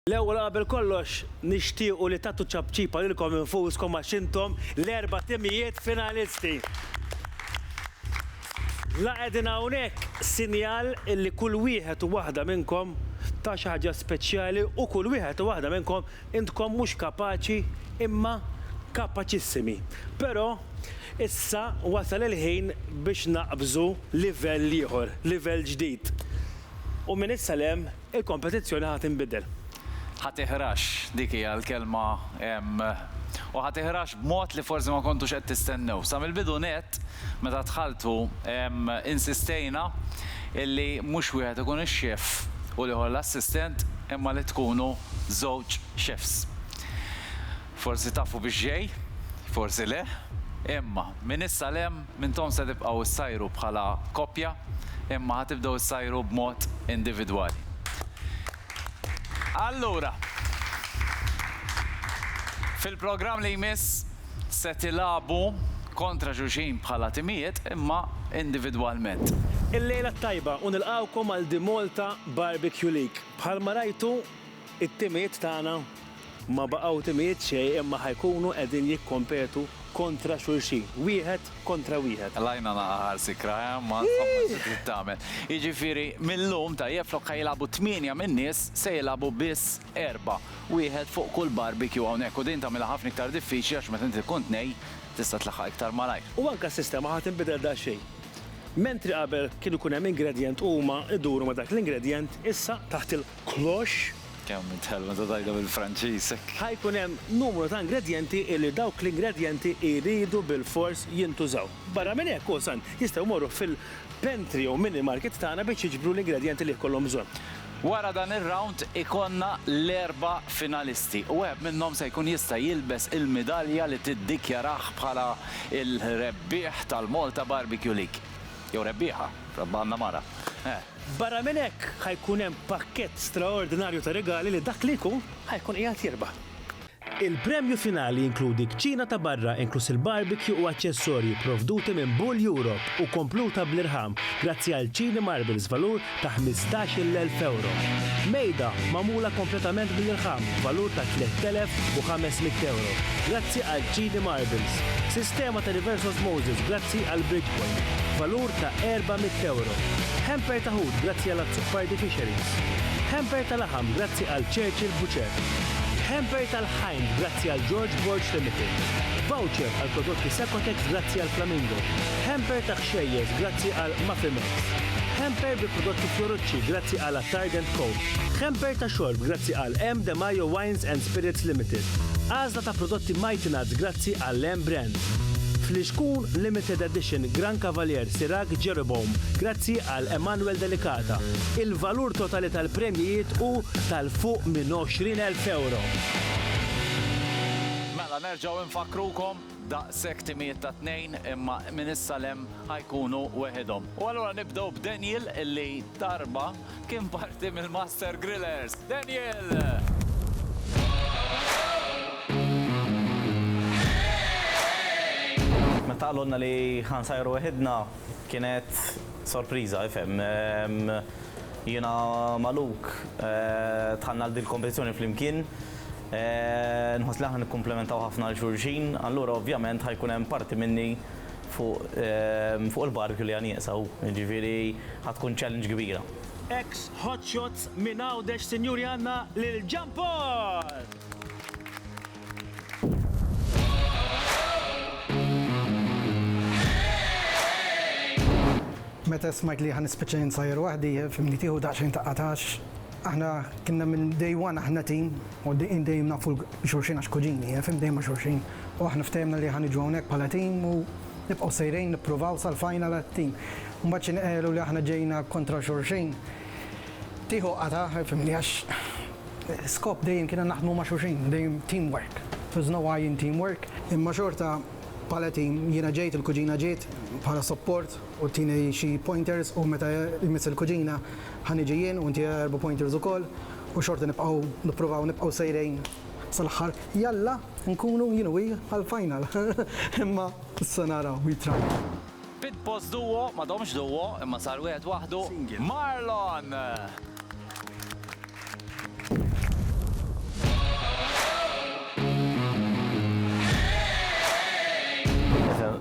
L-ewwel qabel kollox nixtiequ li tagħtu ċapċipa lilkom infuskom għax intom l-erba' timijiet finalisti. La qegħdin hawnhekk sinjal illi kull wieħed u waħda minnkom ta xi ħaġa speċjali u kull wieħed u waħda minnkom intkom mhux kapaċi imma kapaċissimi. Però issa wasal il-ħin biex naqbżu livell ieħor, livell ġdid. U minn issa 'l hemm Il-kompetizzjoni ħa tinbidel. Ħa tiħrax, dik hija l-kelma, u ħa tiħrax b'mod li forsi ma kontux qed tistennew. Sa mill-bidu nett, meta dħaltu, insistejna illi mhux wieħed ikun ix-xef u l-ieħor l-assistent imma li tkunu żewġ xefs. Forsi tafu biex ġej, forsi le, imma minn issa 'l hemm m'intom se tibqgħu ssajru bħala koppja, imma ħa tibdew issajru b'mod individwali. Allura, fil-programm li jmiss se tilagħbu kontra xulxin bħala timijiet imma individwalment. Il-lejla t-tajba u nilqgħukom għal The Malta Barbecue League. Bħalma rajtu, It-timijiet tagħna ma baqgħu timijiet xejn imma ħa jkunu qegħdin jikkompetu kontra xulxin, wieħed kontra wieħed. L-għajna naqa' ħar sikra, eh, ma insomma xi trid tagħmel. Jiġifieri mil-lum, tajjeb, flok ħa jilagħbu tmienja min-nies, se jilagħbu biss erbgħa, wieħed fuq kull barbecue hawnhekk u din tagħmilha ħafna iktar diffiċli għax meta inti tkun tnejn tista' tlaħħaq iktar malajr. U anke s-sistema ħa tinbidel daqsxejn. Mentri qabel kienu jkun hemm ingredjent u huma jduru ma' dak l-ingredjent, issa taħt cloche. Kemm int ħelu meta tgħidha bil-Franċiż hekk! Ħa jkun hemm numru ta' ingredjenti li dawk l-ingredjenti jridu bilfors jintużaw. Barra minn hekk, o San, jistgħu jmorru fil-pantry jew mini-market tagħna biex jiġbru l-ingredjenti li jkollhom bżonn. Wara dan ir-rawnd ikollna l-erba' finalisti u wieħed minnhom se jkun jista' jilbes il-midalja li tiddikjarah bħala l-rebbieħ tal-Malta Barbecue League. Jew rebbieħa, għandna mara. Barra minn hekk, ħa jkun hemm pakkett straordinarju ta' rigali li dak li jkun ħa jkun qiegħed jirbaħ. Il-premju finali jinkludi kċina ta' barra inkluż il-barbecue u aċċessorji pprovduti minn Bull Europe u kompluta bl-irħam grazzi għal Chini Marbles b'valur ta' ħmistax-il elf ewro. Mejda magħmula kompletament bl-irħam b'valur ta' tlett elef u ħames mitt ewro grazzi għal Chini Marbles. Sistema ta' reverse osmosis grazzi għal Bridgepoint b'valur ta' €400, hamper ta' ħut grazzi għal Azzopardi Fisheries, hamper ta' laħam grazzi għal Churchill Butcher, hamper tal-ħajnt grazzi għal George Borg Limited, voucher għal prodotti Sacotex grazzi għal Flamingo, hamper ta' ħxejjeż grazzi għal Maffimex, hamper bi prodotti Fiorucci grazzi għal Attard and Co, hamper ta' xorb grazzi għal M. De Majo Wines and Spirits Limited, għażla ta' prodotti Mighty Nuts grazzi Grazzi għall-Emme Brand. Fl-Iskun Limited Edition Grand Cavalier Sirach Jeroboam grazzi għal Emmanuel Delicata. Il-valur totali tal-premjijiet hu tal fuq minn 20,000 ewro. Mela nerġgħu nfakkrukom, daqshekk timijiet ta' tnejn imma minn issa 'l hemm ħa jkunu weħidhom. U allura nibdew b'Daniel illi darba Kien parti mill-Master Grillers, Daniel! Meta qalulna li ħa nsajru weħidna, kienet sorpriża, ifhem. Jiena ma' Luke dħalna għal din il-kompetizzjoni flimkien. Nħoss li aħna nikkumplementaw ħafna lil xulxin, allura ovvjament ħa jkun hemm parti minni Fuq il-barbecue li ha nieqsa hu, jiġifieri ha tkun challenge kbira. Ex Hot Shots minn Għawdex sinjuri għandna lil Jean Paul! Meta smajt li ha nispiċċa jien sgħajr waħdi, fimni tieħu daqsxejn ta' qatax. Aħna kinna minn day one aħna team u dejjem nafu xulxin għax kuġini, fim, dejjem ma' xulxin. U aħna ftehemna li ħa niġu hawnhekk bħala team u nibqgħu sejrejn nippruvaw sal-final għat-team. U mbagħad xi nqegħlu li aħna ġejna kontra xulxin, tieħu qatgħa, fimni, għax skop dejjem kiena naħdmu ma' xulxin, dejjem team work. There's no I in team work. Imma xorta bħala team, jiena ġejt, il-kuġina ġiet bħala support u tini xi pointers u meta jmiss il-kuġina, Ħa niġi jien u inti erba' pointers ukoll u xorta nibqgħu nippruvaw nibqgħu sejrejn sal-aħħar. Jalla nkunu jien u hi għall-final. Imma issa naraw, we try. Pit boss duo, ma domx duo, imma sar wieħed waħdu, Marlon!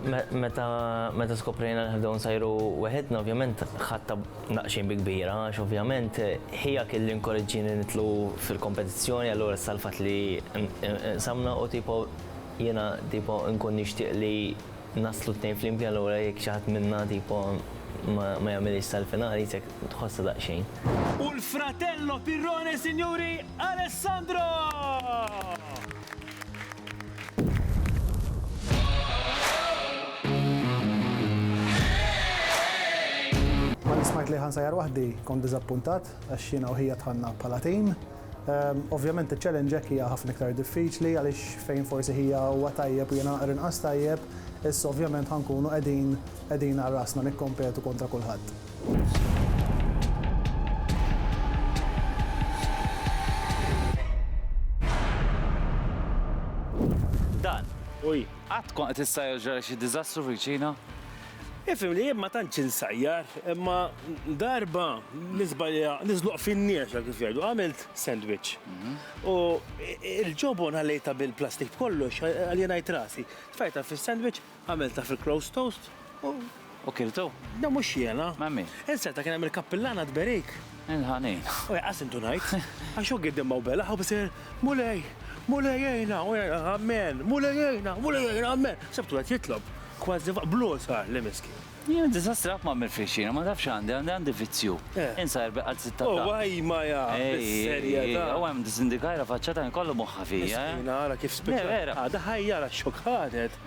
Meta skoprejna li ħanibdew nsajru weħidna ovvjament ħadd naqxin bi kbira għax ovvjament ħija kien li nkoreġġieni nidħlu fil-kompetizzjoni allura issa l-fatt li nqsamna u tipo jiena tipo nkun nixtieq li naslu t-tnejn flimkien allura jekk xi ħadd minna tipo ma ma jagħmilhiex sal-finali jisek tħossha daqsxejn. U l-fratello pirrone sinjuri Alessandro! Malli smajt li ħansajjar waħdi kont diżappuntat għax jiena u ħija dħalna bħala tim. Ovvjament iċ-challenge hekk hija ħafna iktar diffiċli għaliex fejn forsi ħija huwa tajjeb u jiena naqra inqas tajjeb, issa ovvjament ħa nkunu qegħdin qegħdin għal rasna nikkompetu kontra kulħadd. Dan. Uj. Għat kon qed issajjar ġara xi diżastru fil-ċina? Ifim li ma tantx insajjar, imma darba nisbalja niżluq fin-niexa kif jgħidu, għamilt sandwich. Mhm. U il-ġobon ħallejta bil-plastik kollox għalli ngħid rasi. Tfajta fis-sandwich Għamiltha fil-closed toast u. U kiltu? Da mhux jiena. Ma' min? Inserta kien hemm il-kappillana tberik. Il-ħanin. U jaqqa' simtu ngħid. Għax hu giddem ma' u belaħ u b'ser, Mulej! Mulej għinna! U jgħid, Amen! Mulej għinna! Mulej għinna! Amen! Sebtu qed jitlob. Kważi b'logħoż għalli, miskin. Jien diżastri qatt ma għamilt f'ħixxiena, ma nafx x'għandi, għandi għandi vizzju. Insajr bi qalz it-ta' taħt. Huwa jma jaf bis-serjetà. Huwa hemm disindikajra faċċata kien kollu moħħha fija. Miskina ara kif spiċċat. Le vera. Għadha ħajja ara x-xokk ħadet.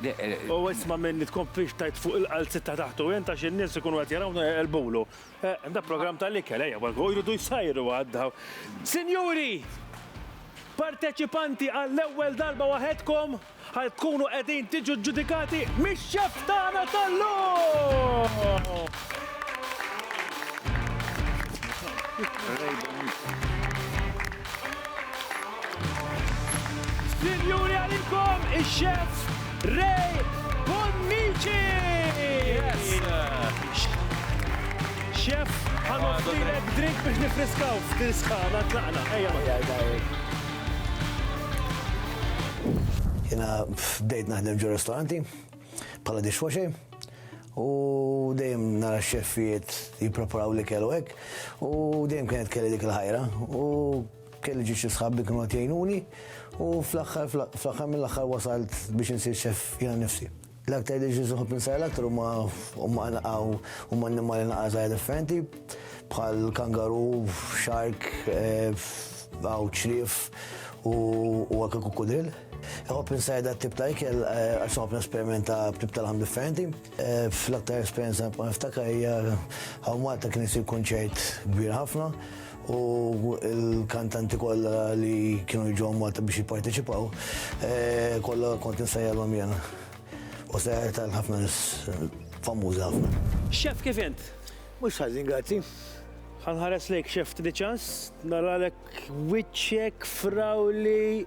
U isma' minni tkun pixtajt fuq il-qalz it-ta' taħt u int għax in-nies ikunu qed jarawna jqelbulu. Eħ, da programm tal-ikel ejja wara u jridu jsajru għad daw. Sinjuri! Parteċipanti għall-ewwel darba waħedkom! Ħa tkunu qegħdin tiġu ġġudikati mix-xef tagħna tal-lum! Sinjuri għalikom ix-xef Ray Bonnici! Xef, ħa nofrilek drink biex nifriskaw f'din sħana tlaqna. Ejja ma. Jiena bdejt naħdem ġo ristoranti bħala dishwasher u dejjem nara x-xeffijiet jippreparaw l-ikel u hekk u dejjem kienet kelli dik il-ħajra u kelli ġi xi sħab li kienu qed jgħinuni u fl-aħħar fl-aħħar mill-aħħar wasalt biex insir xeff jiena nnifsi. L-aktar li ġiż iħobb insara l-aktar huma huma naqgħu huma annimali naqgħa żgħar differenti bħal kangaru, xark, għaw ċrif u anke kukudil. Iħobb insara dat tip ta' ikel għax iħobb nesperimenta b'tip tal-ħam differenti. Fl-aktar esperjenza nibqa' niftakar hija hawn Malta kien isir kunċert kbir ħafna u l-kantanti kollha li kienu jiġu Malta biex jipparteċipaw, eh, kollha kont insejjalhom jena. U sejjer tal-ħafna nis famużi ħafna. Xef kif int? Mhux ħażin grazzi. Ħanħares lejk xef trid ċans, naralek wiċċek frawli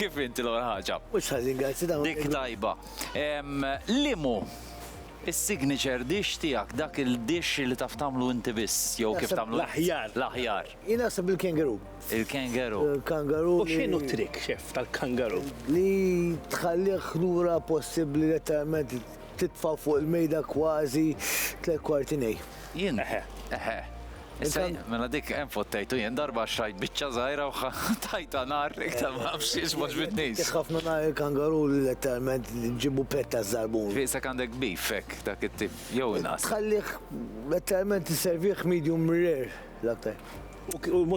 Kif inti l-ewwel ħaġa? Mhux ħażin, grazzi dawn. Dik tajba. Limu is-signature dish tiegħek dak il-dish li taf tagħmlu inti biss jew kif tagħmlu l-aħjar. L-aħjar. Jien naħseb il-kangaroo. Il-kangaroo. Il-kangaroo. U x'inhu trik xef tal-kangaroo? Li tħallih lura possibbli letteralment titfa' fuq il-mejda kważi tliet kwarti nej. Jien. Eħe. Eħe. Issa, mela dik hemm fottejtu jien darba xrajt biċċa żgħira u tajta nar iktar ma nafx xiex ma ġbitnix. Ħafna nar il-kangaru letteralment ġibu petta żarbun. Fiqsek għandek beef hekk dak it-tip jew inqas. Tħallih letteralment isservih medium rare l-aktar.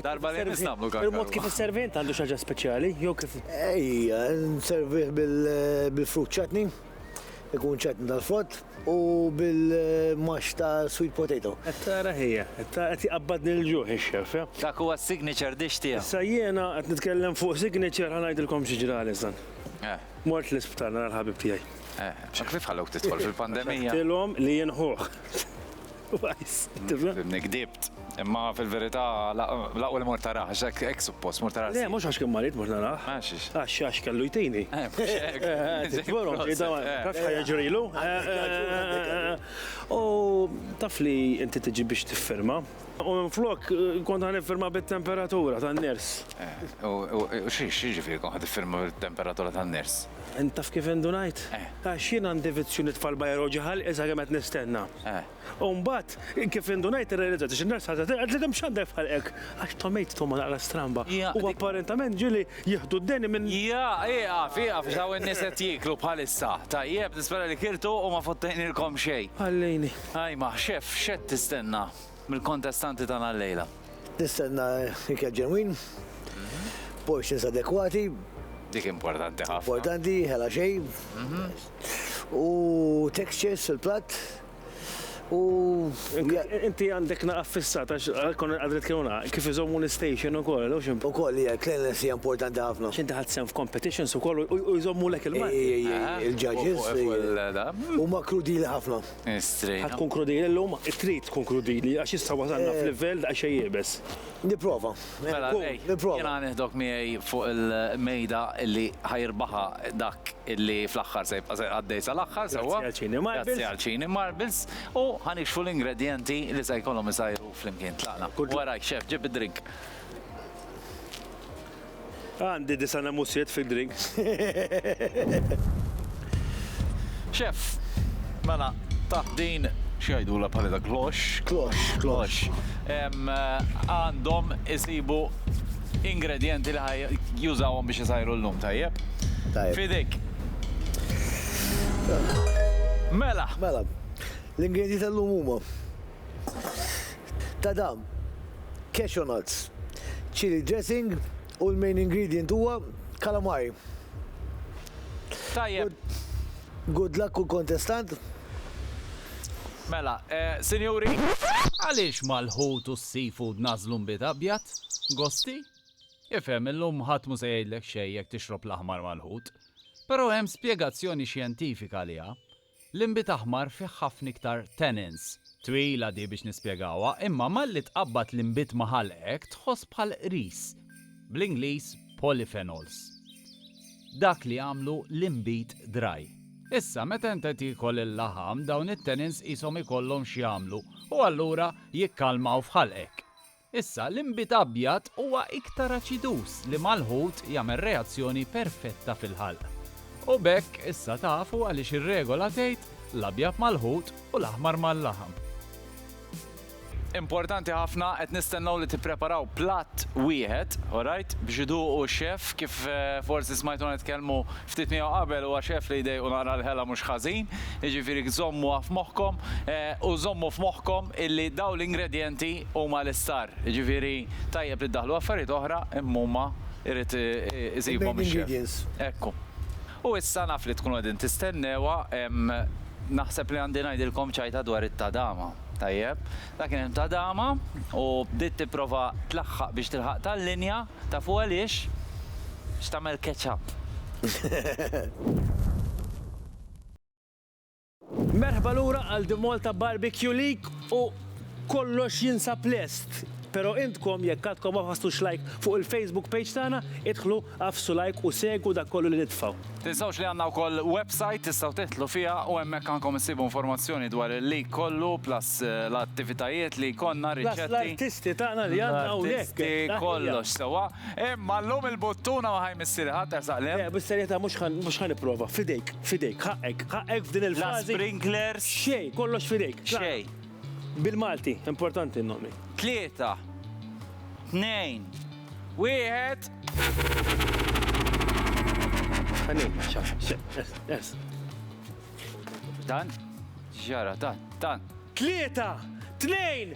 Darba li jmiss nagħmlu kangaru. Il-mod kif isservih int għandu xi ħaġa speċjali jew kif? Ejja, nservih bil-fruit chutney. ikun ċetn tal-frott u bil-max ta' sweet potato. Qed tara ħija, qed jqabbadni l-ġuħ ix-xef. Dak huwa s-signature dish tiegħu. Issa jiena qed nitkellem fuq signature ħa ngħidilkom xi ġrali sa. Mort l-isptar nara l-ħabib tiegħi. Kif ħallewk tidħol fil-pandemija? Għax għedtilhom li jien ħuh. Fimni, gdibt. Imma fil-verità, laqwa li mort taraħ, għax hekk suppost, mort taraħ. Le, mhux għax kien marid mort naraħ. Għax għax għax kellu jtini. Tvorhom ġejda, taf ħajja ġrilu. U taf li inti tiġi biex tifferma. U flok kont ħan firma bit-temperatura tan-ners. U xi xi ġifieri kont ħad tifferma bit-temperatura tan-ners? Intaf kif indunajt? Għax jien għandi vizzju nitfa' l-bajroġi ħalqi sakemm qed nistenna. Eh. U mbagħad kif indunajt irrealizzajt għax in-nurse ħadet qed li kemm x'għandek f'ħalqek għax tomate toma naqra stramba. U apparentament ġieli jieħdu d-deni minn. Ja, ieqaf, ieqaf x'hawn in-nies qed jieklu bħalissa. Tajjeb, nispera li kiltu u ma fottejnilkom xejn. Ħallini. Ajma, xef, x'qed tistenna? mill-kontestanti tagħna llejla. Nistenna ikel ġenwin, portions adekwati. Dik importanti ħafna. Importanti, ħela xej. U textures fil-platt. U. Inti għandek naqaf fissat, għax kon għadret kienu naqaf, kif iżommu l-station u koll, u xim. U koll, jgħak, cleanliness hija importanti ħafna. Xinti ħad sem f'competitions u koll, u jżommu l-ek il-mat. Il-ġaġis. U ma krudili ħafna. Ħa tkunkludili llum? Trid tkunkludili għax issa wasalna f'livell daqsxejn iebes. Nipprova. Mela lej, jiena nieħdok miegħi fuq il-mejda li ħa jirbaħha dak li fl-aħħar se jibqa' għaddej sal-aħħar, sewwa? Grazzi għal Cini Marbles. U ħa nikxfu l-ingredjenti li se jkollhom isajru flimkien. Tlaqna. Warajk, Chef, ġib id-drink. Għandi disa' namusiet fid-drink. Chef, mela, taħt din x'jgħidula bħalli dak klox? Klox. Klox. Għandhom isibu ingredjenti li ħaj jużawhom biex isajru l-lum, tajjeb? Tajjeb. Fidik. Mela. Mela. L-ingredjenti tal-lum huma Ta' dam, cashew nuts, chilli dressing u l-main ingredient huwa calamari. Tajjeb. Good luck kull kontestant. Mela, sinjuri, għaliex mal-ħut u s-seafood nagħżlu nbid abjad? Gosti? Ifhem, illum ħadd mhu se jgħidlek xejn jekk tixrob l-aħmar mal-ħut. Però hemm spjegazzjoni xjentifika għaliha. L-inbid aħmar fih ħafna iktar tannins. Twila di biex nispjegawha, imma malli tqabbad l-inbid ma' ħalqek tħoss bħal qris. Bl-Ingliż polyphenols. Dak li jagħmlu l-inbid dry. Issa meta inta tiekol il-laħam dawn it-tannins qishom ikollhom x'jagħmlu u allura jikkalmaw f'ħalqek. Issa, l-inbid abjad huwa iktar aċiduż li mal-ħut jagħmel reazzjoni perfetta fil-ħalq. U b'hekk issa tafu għaliex ir-regola tgħid, l-abjad mal-ħut u l-aħmar mal-laħam. Importanti ħafna, qed nistennew li tippreparaw platt wieħed, orajt, biex iduqu x-xef, kif forsi smajtuna nitkellmu ftit miegħu qabel, huwa xef li jdejqu naqra l-ħela mhux ħażin, jiġifieri żommuha f'moħħkom, u żommu f'moħħkom illi dawn l-ingredjenti, huma l-istar, jiġifieri tajjeb li ddaħħlu affarijiet oħra imma huma jrid isibhom ix-xef. Ekku. U issa naf li tkunu qegħdin tistennewha, naħseb li għandi ngħidilkom ċajta dwar it-tadama. Tajjeb. Dak kien hemm tadama u bdiet tipprova tlaħħaq biex tilħaq tal-linja, tafu għaliex? X'tagħmel catch up. Merħba lura għal The Malta Barbecue League u kollox jinsab lest. Pero intkom jekk għadkom ma fasstux like fuq il-Facebook page tagħna, idħlu għaffsu like u segwu dak kollu li nitfgħu. Tinsewx li għandna wkoll website tistgħu tidħlu fiha u hemmhekk għandkom issibu informazzjoni dwar il-league kollu plus l-attivitajiet li jkollna, riċetti. Plus l-artisti tagħna li għandna hawnhekk. L-artisti kollox sewwa. Imma llum il-buttuna ma ħaj missieri ħadd ersaq l-hemm. Le, bis-serjetà mhux ħa mhux ħa nipprova. F'idejk, f'idejk, ħaqqek, ħaqqek f'din La il-fażi. sprinklers, Xejn, kollox f'idejk. Klara. xejn. Bil-Malti, importanti n-nomi. Tlieta. Tnejn. Wieħed. Ħanin, xa, xe, es, es. Dan? X'ġara? Dan, dan. Tlieta, tnejn,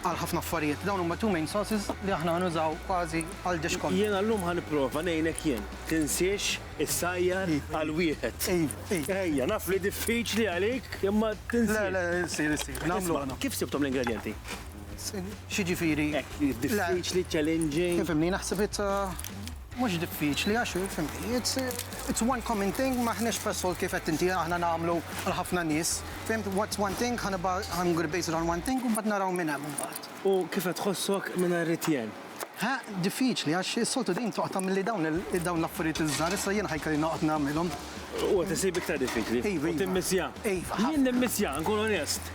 għal ħafna affarijiet. Dawn huma two main sources li aħna ħa nużaw kważi għal dish kollu. Jiena llum ħa nipprova ngħinek jien. Tinsiex issajjar għal wieħed. Ejja, naf li diffiċli għalik imma tinsiex. Le, le, issir, issir. Nagħmlu aħna. Isma', kif sibthom l-ingredjenti? X'jiġifieri? Hekk, diffiċli, challenging. Tifhimni, naħseb it's a. Mhux diffiċli għax hi, fimtni, it's it's one common thing, m'aħniex f'Assault kif għedt inti, aħna nagħmlu għal ħafna nies, fimt, what's one thing, ħa nibgħa, I'm gonna base it on one thing u mbagħad naraw minn hemm imbagħad. U kif qed tħossok mingħajr it-tjen? Ħa, diffiċli għax is-soltu din toqgħod tagħmilli dawn il, dawn l-affarijiet iż-żgħar, issa jiena ħa jkolli noqgħod nagħmilhom. U qed isib iktar diffiċli? Iva, iva. U timmissja? Iva, ħafna. Jien nimmissja, nkun onest.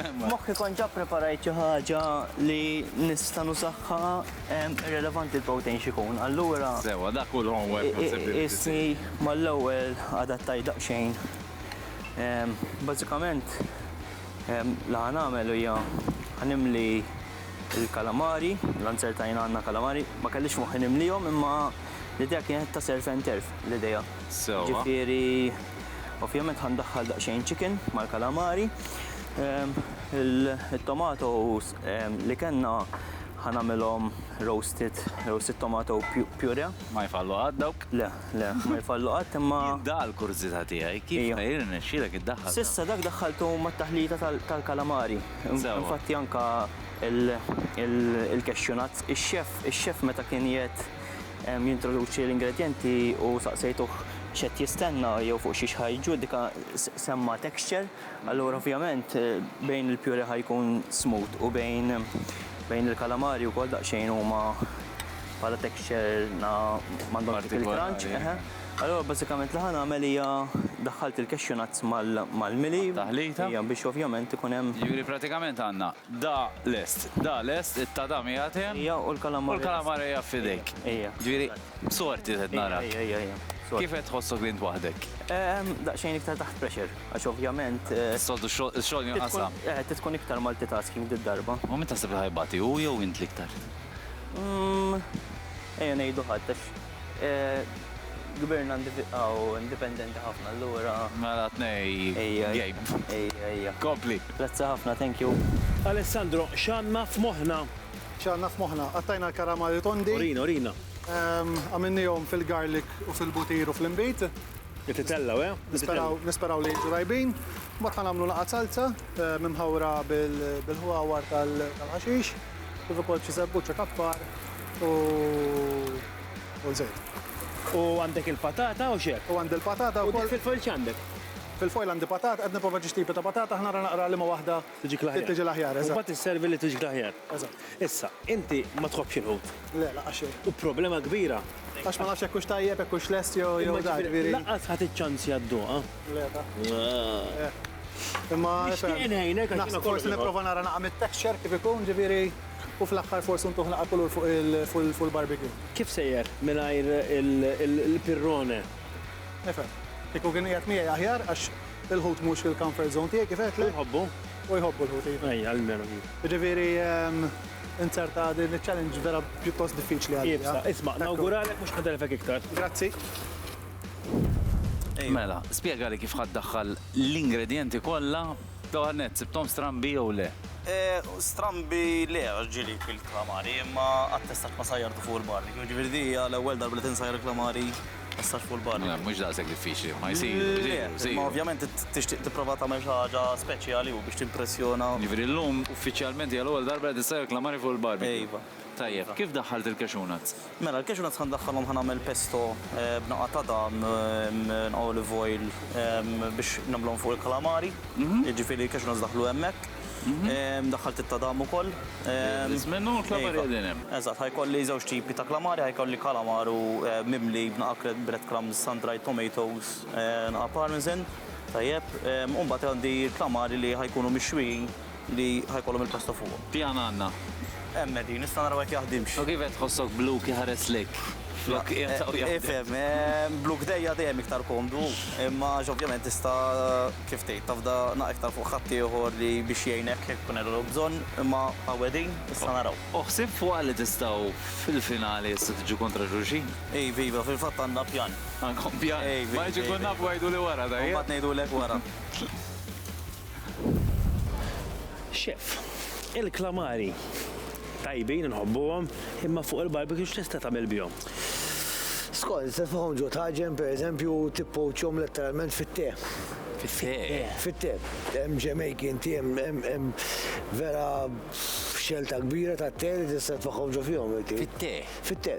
F'moħħi kont ġa ppreparajt xi ħaġa li nista' nużaha irrelevanti l-pow tgħin x'ikun. Allura. Sewwa, dak hu l-homework naħseb li rrid isir. Qisni mal-ewwel adattajt daqsxejn. Bażikament li ħa nagħmel hija ħa nimli l-kalamari, l-answer ta' jien għandna kalamari, ma kellix f'moħħi nimlihom imma l-idea kienet ta' surf and turf l-idea. Sewwa. Ġifieri. Ovvjament ħa ndaħħal daqsxejn chicken mal-kalamari. Ehm, il-tomatoes ehm, li kellna ħa nagħmilhom roasted, roasted tomato puree. Ma jfallu qatt dawk? Le, le, ma jfallu qatt imma. Dal kurżità tiegħi kif ma jirnexxielek iddaħħal. Sissa dak daħħaltu mat-taħlita tal-kalamari. Infatti anka il-cashew nuts, ix-xef, ix-xef meta kien jgħid jintroduċi l-ingredjenti u saqsejtuh x'qed jistenna jew fuq xiex ħa jiġġudika, semma texture, allura ovvjament bejn il-purée ħa jkun smooth u bejn bejn il-kalamari wkoll daqsxejn huma bħala texture na m'għandhomx dik il-crunch, eħe. Allura bażikament li ħa nagħmel hija daħħalt il-cashew nuts mal-mili. Għat-taħlita. Ejja, biex ovvjament ikun hemm. Jiġifieri pratikament għandna Da lest. Da lest, it-tadam qiegħed hemm. Ija, u l-kalamar. U l-kalamar qiegħed f'idejk. Ija. Ġifieri, sorti qed narak. Ija, ija, ija, ija. Sorti. Kif qed tħossok li int waħdek? Daqsxejn iktar taħt pressure, għax ovvjament. Is-soltu x-xogħol jinqasam. Eh, trid tkun iktar multitasking did-darba. U min taħseb li ħa jbati, hu jew int l-iktar? Ejja ngħidu ħadd, għax. Kbirna u indipendenti ħafna allura. Mela tnej game. Ejja, ejja. Kompli. Grazzi ħafna, thank you. Alessandro, x'għandna f'moħħna? X'għandna f'moħħna? Qattajna l-karamali tondi. Urina, urina. Għamilniehom fil-garlic u fil-butir u fl-inbid. Qed itellgħu, eh? Nisperaw, nisperaw li jiġu tajbin. Mbagħad ħa nagħmlu laqgħat salza, mimħawra bil-ħwawar tal-ħaxix. kif ukoll f'xi żebbuċċa ta' bqar u u żejt. U għandek il-patata u x'hekk? U għandi l-patata wkoll. U dik fil-foil x'għandek? Fil-foil għandi patata, qed nipprova xi tipi ta' patata ħa nara naqra liema waħda Tiġik l-aħjar. tiġi l-aħjar, eżatt. U mbagħad isservi li tiġik l-aħjar. Eżatt. Issa, inti ma tħobbx il-ħut? Le, lanqas xejn. U problema kbira. Għax ma nafx jekk hux tajjeb, jekk hux lest jew jew da, ġifieri. Imma ġifieri lanqas ħa tiċċanzja dduqha? Nixtieq ngħinek għax jiena forsi nipprova nara naqra mit-texture kif ikun, ġifieri, u fl-aħħar forsi ntuh naqra kulur fuq il-barbecue. Kif sejjer mingħajr il-pirrone? Nifhem. Kieku kien qiegħed miegħi aħjar għax il-ħut mhux fil-comfort zone tiegħi, kif għedtlek. Hu jħobbu? Hu jħobbu l-ħut, iva. Ejja, almenu hi. Jiġifieri, inzerta din iċ-challenge vera pjuttost diffiċli għalija. Iva, isma', nawguralek mhux ħa telfek iktar. Grazzi. Mela, spjegali kif ħa ddaħħal l-ingredjenti kollha. L-ewwel nett, sibthom strambi jew le? Strambi le għax ġieli kbilt il-kalamari, imma qatt tistgħax ma sajjartu fuq il-barri. Jiġifieri din hija l-ewwel darba li tinsajjar il-kalamari messaġġ fuq il-barri. Le, mhux daqshekk diffiċli, ma jsiru, jsiru, jsiru. Imma ovvjament tixtieq tipprova tagħmel xi ħaġa speċjali u biex timpressjona. Jiġifieri llum uffiċjalment hija l-ewwel darba li qed issajjar kalamari fuq il-barbecue? Iva. Tajjeb, kif daħħalt il-cashew nuts? Mela, l-cashew nuts ħa ndaħħalhom ħa nagħmel pesto b'naqgħa ta' dam, olive oil, biex nagħmluhom fuq il-calamari. Jiġifieri l-cashew nuts daħlu hemmhekk. Daħħalt it-ta' dam ukoll. Biss minnu u l-calamari qegħdin hemm. Eżatt, ħa jkolli żewġ tipi ta' calamari, ħa jkolli calamaro mimli b'naqgħa breadcrumbs, sun-dried tomatoes, naqgħa parmesan, tajjeb, u mbagħad għandi l-calamari li ħa jkunu mixwin li ħa jkollhom il-pasta fuqhom. Pjan għandna. Hemm qegħdin, issa naraw jekk jaħdimx. U kif qed tħossok blu kif ħares lejk? Flok qiegħed hawn jaħdem. Ifhem, blu kdejja dejjem iktar komdu, imma għax ovvjament tista' kif tgħid, tafda naqra iktar fuq ħaddieħor li biex jgħinek jekk ikun għellu bżonn, imma hawn qegħdin, issa naraw. U ħsibt fuqha li tistgħu fil-finali issa tiġu kontra xulxin? Iva, iva, fil-fatt għandna pjan. Għandkom pjan? Iva, iva. Ma rridx inkun naf u għiduli wara, tajjeb? Imbagħad ngħidulek wara. Chef, il-klamari tajbin inħobbuhom, imma fuq il-barbecue x'tista' tagħmel bihom? Skont, se tfogħom ġo taġen pereżempju tippowċjhom letteralment fit-te. Fit-te? Fit-te. Hemm Jamaican tea, hemm vera xelta kbira tat-te li tista' tfogħom ġo fihom. Fit-te? Fit-te.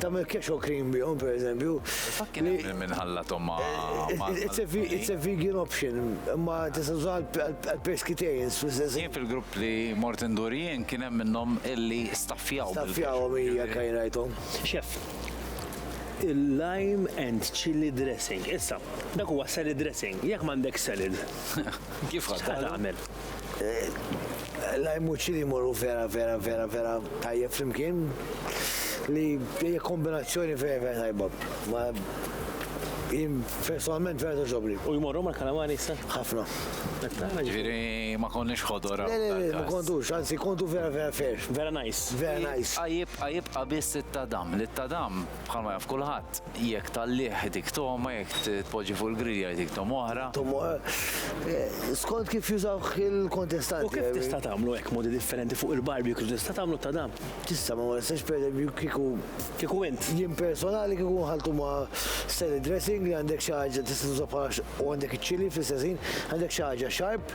tagħmel cash or cream bihom pereżempju. Fatt kien hemm minn ħallathom ma' It's a vegan option, imma tista' tuża għall-pescatarians fl-istess. Jien fil-grupp li mort indur jien kien hemm minnhom illi staffjaw. Staffjawhom hija kien rajthom. Chef, il-lime and chilli dressing. Issa, dak huwa salad dressing, jekk m'għandekx salad. Kif ħa tagħmel? L-ajmuċċi li jmorru vera vera vera vera tajjeb flimkien li hija kombinazzjoni vera vera tajba. Ma jien personalment vera toġobni. U jmorru mal-kalamari issa? Ħafna. Ġifieri ma konniex ħodor. Le le le, ma kontux, anzi kontu vera vera fair. Vera nice. Vera nice. Jibqa' jibqa' biss it-tadam. Li t-tadam Bħalma jaf kulħadd, jekk tgħallih itik togħma, jekk tpoġġi fuq il-grilja jtik togħma oħra. Togħma skont kif jużawh il-kontestanti. U kif tista' tagħmlu hekk modi differenti fuq il-barbecue kif tista' tagħmlu ta' dan? Tista' ma ma nistax pereżempju kieku Kieku int. Jien personali kieku nħalltu ma' salad dressing li għandek xi ħaġa tista' tuża bħala u għandek iċ-chilli fl-istess ħin, għandek xi ħaġa sharp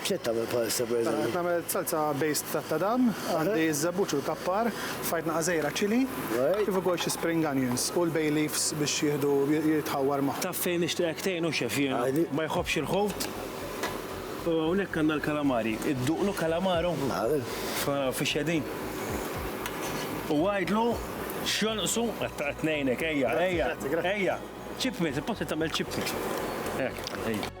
X'qed tagħmel bħalissa pereżempju? Qed nagħmel salsa based tat-tadam, għandi ż-żebbuġ u l-kappar, f'ħajtna għażejra chilli, kif ukoll xi spring onions u l-bay leaves biex jieħdu jitħawwar ma'. Taf fejn nixtieqek tgħinu chef jiena? Ma jħobbx il-ħut u hawnhekk għandna l-kalamari. Idduqlu kalamaro? Nagħmel. Naraw fiex qegħdin. U għidlu x'jonqsu, qed ngħinek, ejja, ejja, ejja, chip meat, il-post li tagħmel chip meat. Hekk, ejja.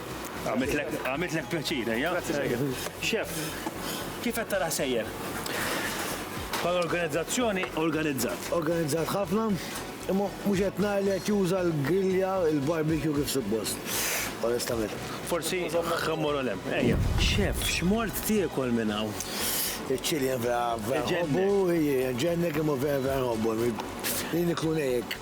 Għamitlek pjaċir, ejja? Xef, kif qed tara sejjer? Bħal organizzazzjoni organizzat. Organizzat ħafna, imma mhux qed nara li qed juża l-grillja, il-barbecue kif suppost. Onestament. Forsi ħammur olem. Ejja. Xef, x'mort tiekol minn hawn? Iċ-ċilien vera vera ħobbu, ġennek imma vera vera ħobbu. Li niklu nejek.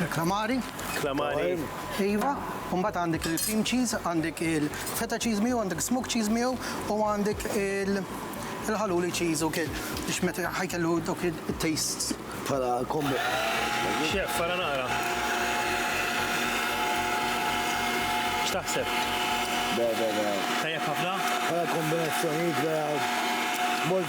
Il-klamari. Klamari. Iva, u mbagħad għandek il-cream cheese, għandek il-feta cheese miegħu, għandek smoke cheese miegħu u għandek il- il-ħaluli cheese u kien biex meta ħajkellu dok il-tastes. Pala kombo. Xef, fara nara. X'taħseb? Da, da, da. Tajjeb ħafna? Pala kombinazzjoni, da, mort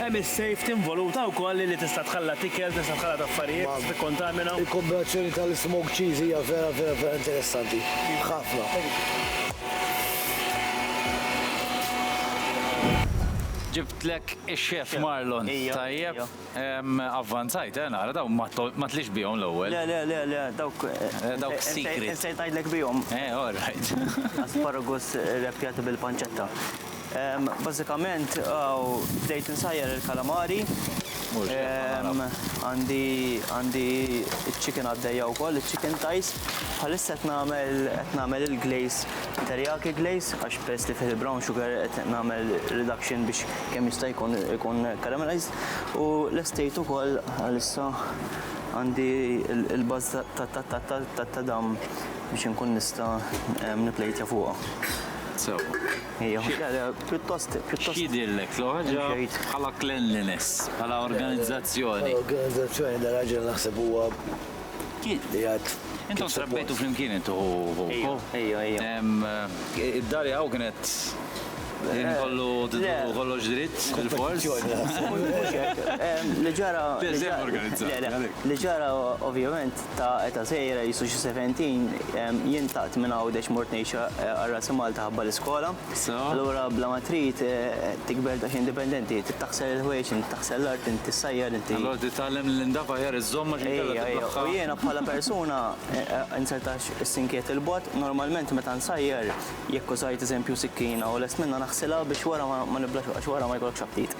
Hemm is-safety involuta wkoll li tista' tħallat ikel, tista' tħallat affarijiet, tista' tikkontamina. Il-kombinazzjoni tal-smoked cheese hija vera vera vera interessanti. Ħafna. Ġibtlek ix-chef Marlon. Tajjeb. Avvanzajt eh nara, dawn ma tliex bihom l-ewwel. Le le le le dawk. Dawk secret. Insejt ngħidlek bihom. Eh all right. Asparagus irreppjati bil-pancetta. Bażikament bdejt insajjar il-kalamari. Għandi għandi iċ-chicken għaddejja wkoll, iċ-chicken thighs. Bħalissa qed nagħmel qed nagħmel il-glaze, teriyaki glaze, għax peress li fih il-brown sugar qed nagħmel reduction biex kemm jista' jkun ikun caramelized. U lestejt ukoll bħalissa għandi il-buzz tat-tadam biex inkun nista' nipplejtja fuqha. Sewwa. X'jidhirlek l-ħaġa bħala cleanliness, bħala organizzazzjoni? Organizzazzjoni dan raġel naħseb huwa qiegħed. Intom trabbejtu flimkien intu hu hu? Ejja, ejja, ejja. Id-dar jaqgħu kienet Kien kollu tidħlu kollox dritt bil-fors. Li ġara. Li ġara ovvjament ta' eta' żgħira, qisu xi seventin, jien tlaqt minn Għawdex mort ngħix għal Ras Malta ħabba l-iskola. Allura bla ma trid tikber daqsxejn indipendenti, trid taħsel il-ħwejjeġ, inti taħsel l-art, inti ssajjar, inti. Allura trid titgħallem li l-indaf aħjar iżżomm għax inkella tiblaħħaq. Ejja, u jiena bħala persuna insertax is-sinkiet 'il bogħod, normalment meta nsajjar jekk użajt eżempju sikkina u lest minnha naħsilha biex wara ma niblax għax wara ma jkollokx aptit.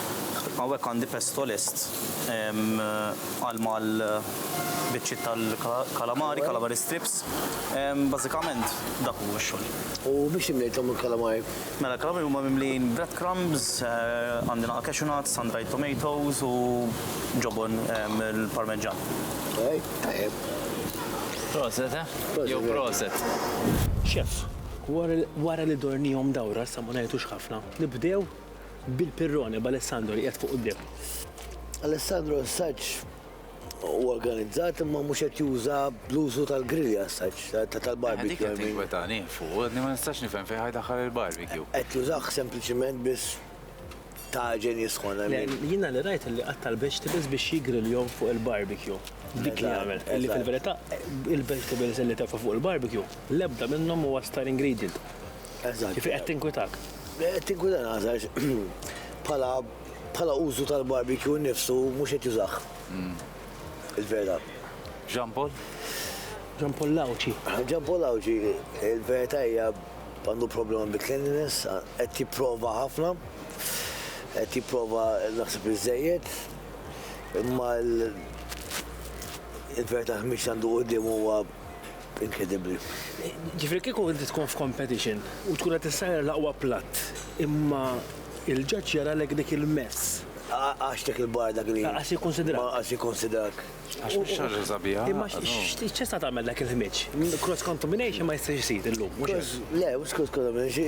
Hawnhekk għandi pesto lest għal mal biċċiet tal-kalamari, calamari strips. Bażikament dak hu x-xogħol. U biex imlejthom il-kalamari? Mela l-kalamari huma mimlijin bread crumbs, għandi naqa' cashew nuts, sun dried tomatoes u ġobon il-parmeġġan. Okej, tajjeb. Proset, eh? Jew proset. Chef, wara li dornihom dawra sa ma ngħitux ħafna, nibdew bil-pirrone b'Alessandro li qiegħed fuq quddiem. Alessandro assaġġ u organizzat imma mhux qed juża bl-użu tal-grilja assaġġ tal-barbecue. Dik qed tinkwetani fuq, ma nistax nifhem fejn ħajdaħħal il-barbecue. Qed jużah sempliċiment biex taġen jisħon. Jiena li rajt li qatta l-vegetables biex jigriljhom fuq il-barbecue. Dik li għamel. Li fil-verità il-vegetables li tefa' fuq il-barbecue l-ebda minnhom huwa star ingredient. Eżatt. Kif qed tinkwitak? Qed tinkwitak għażax bħala bħala użu tal-barbecue nnifsu mhux qed jużah. Hmm. Il-vera. Jean Paul? Jean Paul Lawċi. Jean Paul Lawċi, il-verità hija għandu problema bi cleanliness, qed tipprova ħafna, qed tipprova naħseb iżejjed, imma il-verità mhix għandu qudiem huwa Inkredibbli. Ġifieri kieku inti tkun f'competition u tkun qed issajjar l-aqwa platt, imma il-ġaġġ jaralek dik il-mezz. Għax dik il-bar dak li. Lanqas jikkunsidrak. Lanqas jikkunsidrak. Għax mhix xi ħaġa sabiħa. Imma x'tista' tagħmel dak il-ħmieġ? Cross contamination ma jistax isir illum, mhux hekk? Le, mhux cross contamination,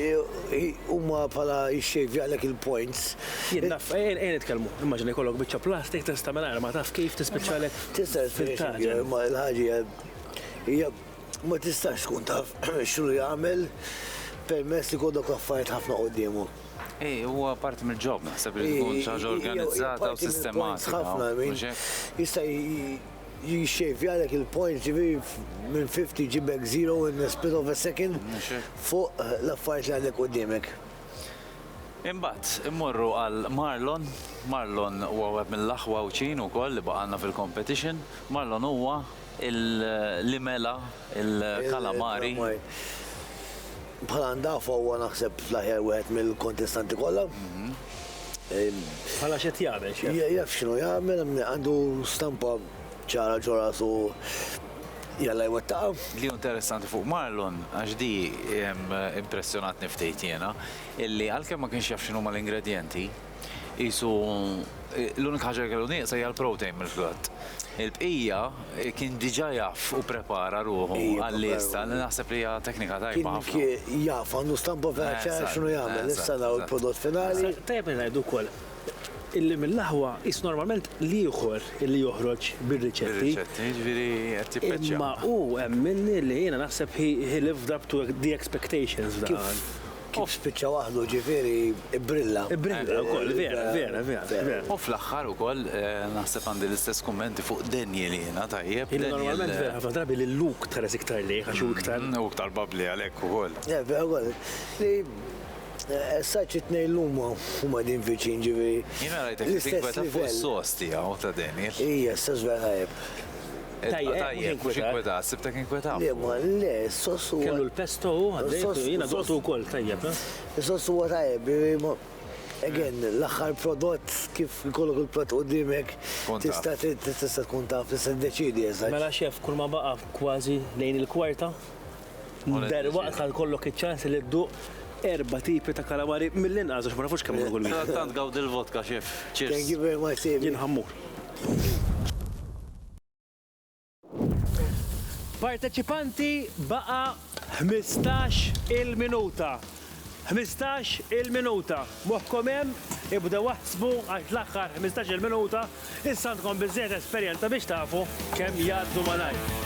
huma bħala jixxejvjalek il-points. Jien naf, ejja nitkellmu, immaġina jkollok biċċa plastik tista' mingħajr ma taf kif tispiċċalek fil-taġen. Tista' tispiċċalek fil-taġen, imma l-ħaġa hija. Hija ma tistax tkun taf x'ru jagħmel permess li kollok affarijiet ħafna quddiemu. Ej, huwa parti mill-ġob, naħseb li tkun ċaġa organizzata u sistematika. Ħafna, jista' jixxejvjalek il-point ġiviri minn 50 ġibek 0 in the split of a second fuq l-affarijiet li għandek qudiemek. Imbagħad, immorru għal Marlon. Marlon huwa wieħed mill-aħwa wċin ukoll li baqgħalna fil-competition. Marlon huwa il-limela, il-kalamari. Bħala ndafa huwa naħseb l-aħjar wieħed mill-kontestanti kollha. Bħala x'qed jagħmel xi? Jaf x'inhu jagħmel, għandu stampa ċara ġo rasu jalla jwettaqa. Li interessanti fuq Marlon, għax di impressjonatni ftit jiena, illi għalkemm ma kienx jaf x'inhuma l-ingredjenti, qisu l-unika ħaġa li kellu nieqsa hija l-protein mill-frott. Il-bqija kien diġà jaf u prepara ruħu għall-lista li naħseb li hija teknika tajba ħafna. Kien jaf għandu stampa vera ċara x'inhu jagħmel, issa naraw il-prodott finali. Tajjeb li ngħidu wkoll illi mill-aħwa qisu normalment l-ieħor illi joħroġ bir-riċetti. Bir-riċetti, jiġifieri qed jippeċċja. Imma hu hemm minni li jiena naħseb he lived up to the expectations f'dan. Kif spiċċa waħdu, ġifieri bbrilla. Bbrilla wkoll, vera, vera, vera. U fl-aħħar ukoll naħseb għandi l-istess kummenti fuq Daniel jiena, tajjeb. Jiena normalment vera ħafna drabi lil Luke tħares iktar lejh għax hu iktar. Hu iktar babbli għalhekk ukoll. Le, vera wkoll. Li as such it-tnejn llum huma qegħdin viċin, ġifieri. Jiena rajtek qed tinkweta fuq is-sors tiegħu ta' Daniel. Ija, s-sors vera tajjeb. Tajjeb, tajjeb, mhux inkwetat, sibtek inkwetat. Le, ma le, s-sos huwa. Kellu l-pesto u għaddejt, jiena doqtu wkoll tajjeb. Eh? Is-sos huwa tajjeb, again, eh. l-aħħar prodott kif ikollok il-prodott qudiemek tista' tista' tkun taf tista' deċidi eżatt. Mela xef, kull ma baqa' kważi lejn il-kwarta. Der waqt ħal kollok iċ-ċans li dduq erba tipi ta' kalamari mill-inqas għax ma nafux kemm kull wieħed. Tant gawd il-vodka xef. Cheers. Thank you very much, Jien ħammur. Parteċipanti baqa' ħmistax il-minuta. Ħmistax il-minuta. Moħħkom hemm? Ibdew aħsbu għax l-aħħar ħmistax il-minuta issa għandkom biżżejjed esperjenza biex tafu kemm jgħaddu malajr.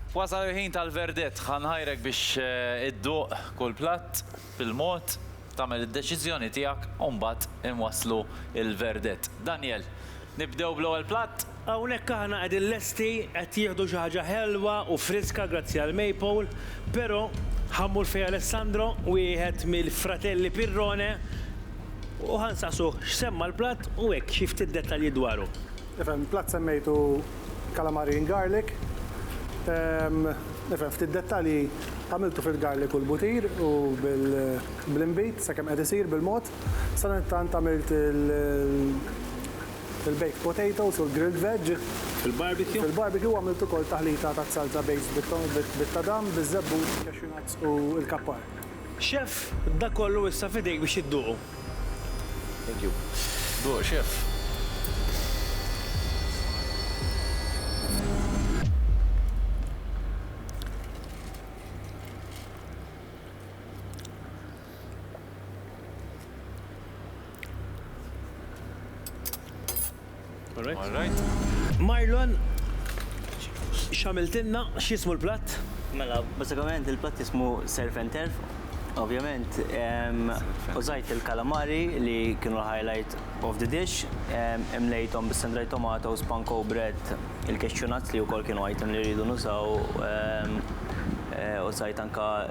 Wasal il-ħin tal-verdett. Ħa nħajrek biex idduq kull platt bil-mod, tagħmel id-deċiżjoni tiegħek u mbagħad inwasslu l-verdett. Daniel, nibdew bl-ewwel platt? Hawnhekk aħna qegħdin lesti, qed jieħdu xi ħaġa ħelwa u friska grazzi għal Maple, però ħa mmur fejn Alessandro, wieħed mill-fratelli Pirrone, u ħa nsaqsuh x'semma l-platt u hekk xi ftit dettalji dwaru. Nifhem, plat semmejtu calamari in garlic. Ehm, nifhem, ftit dettalji għamiltu fil-garlic u l-butir u bl-inbid, sakemm qed isir bil-mod. Sadanittant għamilt il-baked potatoes u l-grilled veg. Fil-barbecue? Fil-barbecue għamilt ukoll taħlita taż-żalza based bit-tadam, biz-żebbux, cashew nuts u l-kappar. Chef, dak kollu issa f'idejk biex idduqu. Thank you. Duq, chef. Marlon, x'għamiltilna? X'jismu l-platt? Mela, bażikament il-platt jismu surf and turf. Ovvjament, użajt il-kalamari li kienu l-highlight of the dish, imlejthom bis-sun-dried tomato, spanko bread, il-cashew nuts li wkoll kienu item li rridu nużaw, użajt anke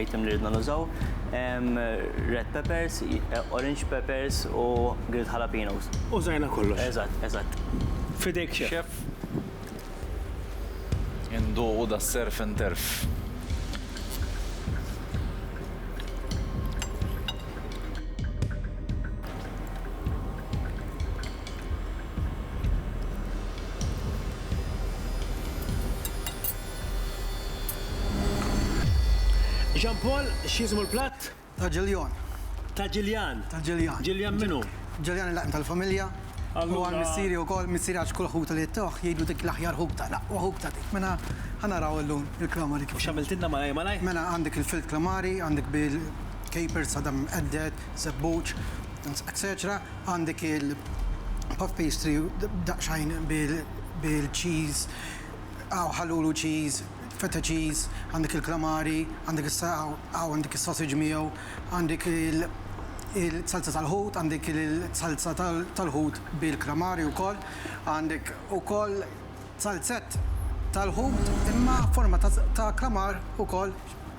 item li ridna nużaw, red peppers, orange peppers u grilled jalapenos. Użajna kollox. Eżatt, eżatt. F'idejk chef. Chef. Induqu da surf and turf. Jean Paul, x'jismu l-platt? Ta' Ġiljan. Ta' Ġiljan? Ta' Ġiljan. Ġiljan min hu? Ġiljan il-laqim tal-familja. Allura. Huwa missieri wkoll, missieri għax kull ħutu li jtuh jgħidu dik l-aħjar ħut ta' l-aqwa ħut ta' dik. Mela ħa naraw illum il-klamari kif. U x'għamiltilna malajr malajr? Mela għandek il-filed klamari, għandek bil-capers, sadam imqedded, żebbuġ, etċetera. Għandek il-puff pastry daqsxejn bil-cheese. Hawn ħalulu cheese, feta cheese, għandek il-klamari, għandek is-saqaw, hawn għandek is-sausage miegħu, għandek il-salza tal-ħut, għandek il-salza tal-ħut bil-klamari wkoll, għandek ukoll salzett tal-ħut imma forma ta' klamar ukoll.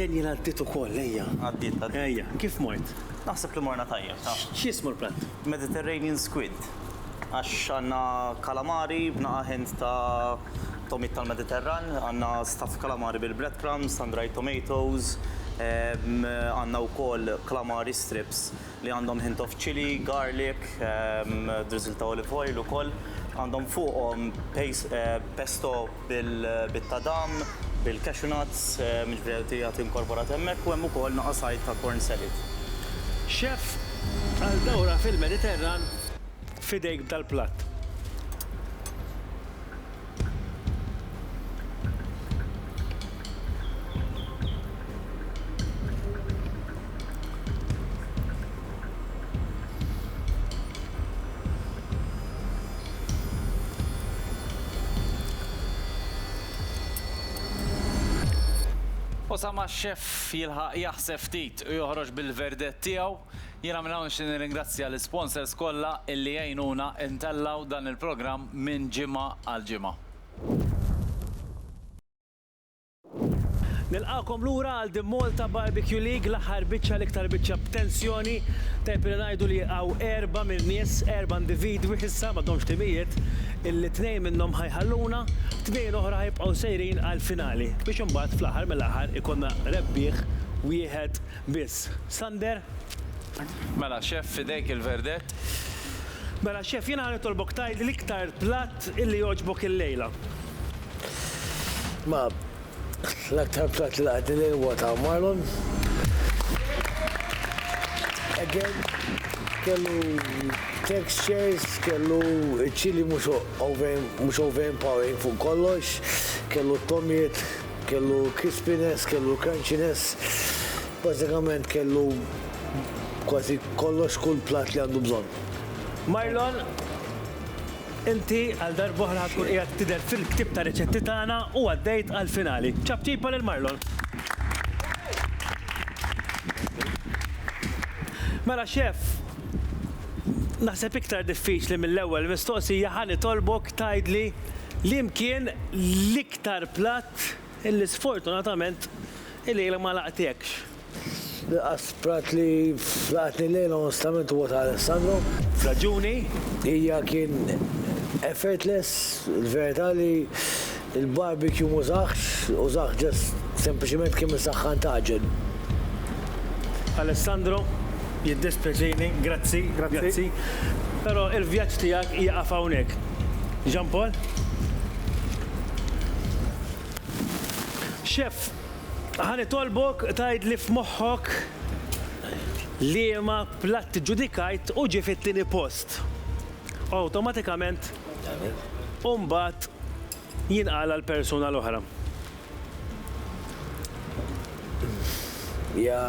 Daniel għaddit ukoll, ejja. Għaddit, għaddit. Ejja, kif mort? Naħseb li morna tajjeb, taf. X'jismu l-platt? Mediterranean squid. Għax għandna kalamari b'naqa' ħint ta' tomit tal-Mediterran, għandna staff kalamari bil-breadcrumbs, sun-dried tomatoes, għandna wkoll kalamari strips li għandhom hint of chilli, garlic, drizzle ta' olive oil ukoll, għandhom fuqhom pesto bit-tadam, bil-cashew nuts, jiġifieri jagħti inkorporat hemmhekk u hemm ukoll naqa' sajd ta' corn salad. Chef għal dawra fil-Mediterran f'idejk b'dal-platt. U sa ma x-xeff jilħaq jaħseb ftit u joħroġ bil-verdett tiegħu, Jiena minn hawn nixtieq nirringrazzja l-isponsors kollha illi għinuna ntellgħu dan il-programm minn ġimgħa għal ġimgħa. Nilqagħkom lura għal The Malta Barbecue League, l-aħħar biċċa, l-iktar biċċa b'tensjoni. Tajjeb li ngħidu li hawn erba' mill-nies, erba' individwi issa, m'għadhomx timijiet, illi tnejn minnhom ħa jħalluna, tnejn oħra ħa jibqgħu sejrin għall-finali, biex imbagħad fl-aħħar mill-aħħar ikollna rebbieħ wieħed Biss. Sander? Mela, Chef, f'idejk il-verdett. Mela, Chef, jiena ħa nitolbok tgħid l-iktar platt illi jogħġbok illejla. Ma, l-aktar platt li laqatni llejla huwa ta' marlon. Again, kellu textures, kellu ċ-ċili mhux overpowering fuq kollox, kellu t-tomiet. Kellu crispiness, kellu crunchiness, bażikament kellu kważi kollox kull platt li għandu bżonn. Marlon, inti għal darba oħra ħa tkun qiegħed tidher fil-ktieb ta' riċetti tagħna u għaddejt għall-finali. Ċapċipa lil Marlon. Mela Chef, naħseb iktar diffiċli mill-ewwel mistoqsija ħa nitolbok tgħidli li mkien l-. Tar platt illi sfortunatament il-lejla ma laqtiekx. L-inqas platt li laqatni llejla onestament huwa ta' Alessandro. F'raġuni. Hija kien effortless, il-verità li l-barbecue m'użahx, użah just sempliċement kemm isaħħan tagħġen. Alessandro, jiddispjaċini, grazzi, grazzi, però l-vjaġġ tiegħek jieqaf hawnhekk. Jean Paul? Chef, ħani tolbok tajd li f'moħħok liema platt ġudikajt u ġie fit-tieni post. Awtomatikament, u mbagħad jinqal għal persuna l-oħra. Hija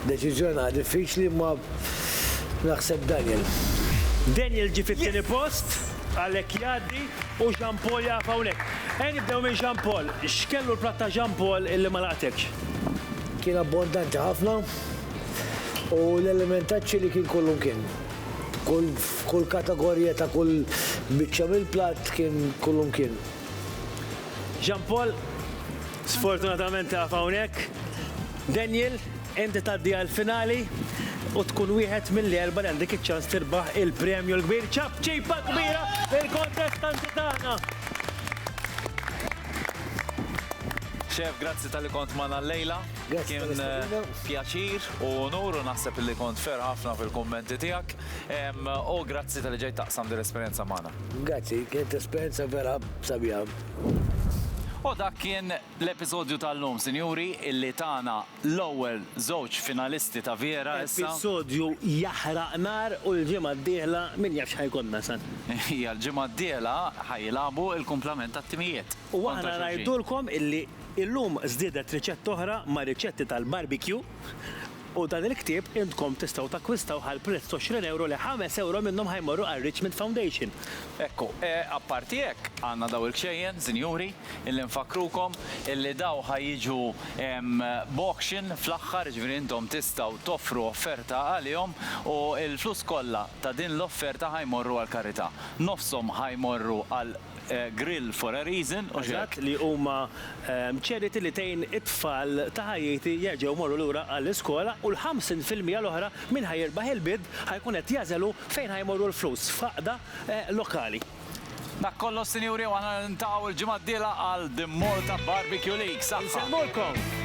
deċiżjoni naħa diffiċli imma naħseb Daniel. Daniel ġie fit-tieni post, għalhekk jgħaddi u Jean Paul jaqaf hawnhekk. Ejja nibdew minn Jean Paul. X'kellu l-platt ta' Jean Paul illi ma laqatekx? Kien abbondanti ħafna u l-element taċ-ċili kien kollu mkien. Kull f'kull kategorija ta' kull biċċa mill-platt kien kullimkien. Jean Paul, Sfortunatament tieqaf hawnhekk. Daniel, inti tgħaddi għall-finali u tkun wieħed mill-erbgħa li għandek iċ-ċans tirbaħ il-premju l-kbir. Ċapċipa kbira lill-kontestanti tagħna! Chef, grazzi talli kont magħna llejla. Kien pjaċir u unur u naħseb li kont fer ħafna fil-kummenti tiegħek. U grazzi tal-li ġejt taqsam din l-esperjenza magħna. Grazzi, kienet esperjenza vera sabiħa. U dak kien l-episodju tal-lum, sinjuri, illi tana l-ewwel żewġ finalisti ta' Viera issa. Episodju jaħraq nar u l-ġimgħa d-dieħla min jaf x'ħa jkollna, San. Hija l-ġimgħa d-dieħla ħa jilagħbu l-kumplament tat-timijiet. U aħna ngħidulkom illi illum żdiedet riċetta oħra mar-riċetti tal-barbecue u dan il-ktieb intkom tistgħu takkwistawh għal prezz t'għoxrin ewro li ħames ewro minnhom ħa jmorru għar-Richmond Foundation. Ekku, apparti hekk, għandna daw il-kxejjen, sinjuri, illi nfakkrukom illi daw ħa jiġu b'auction fl-aħħar, jiġifieri intom tistgħu toffru offerta għalihom u l-flus kollha ta' din l-offerta ħa jmorru għall-karità. Nofshom ħa jmorru għal Grill for a Reason u hekk. li huma charity li tgħin it-tfal ta' Ħajiti jerġgħu jmorru lura għall-iskola u l-ħamsin fil-mija l-oħra min ħa jirbaħ il-bid ħa jkun qed jagħżel hu fejn ħa jmorru l-flus f'għaqda lokali. Dak kollox sinjuri u aħna niltaqgħu il-ġimgħa d-dielha għal The Malta Barbecue League. Saħħa! Insellmulkom!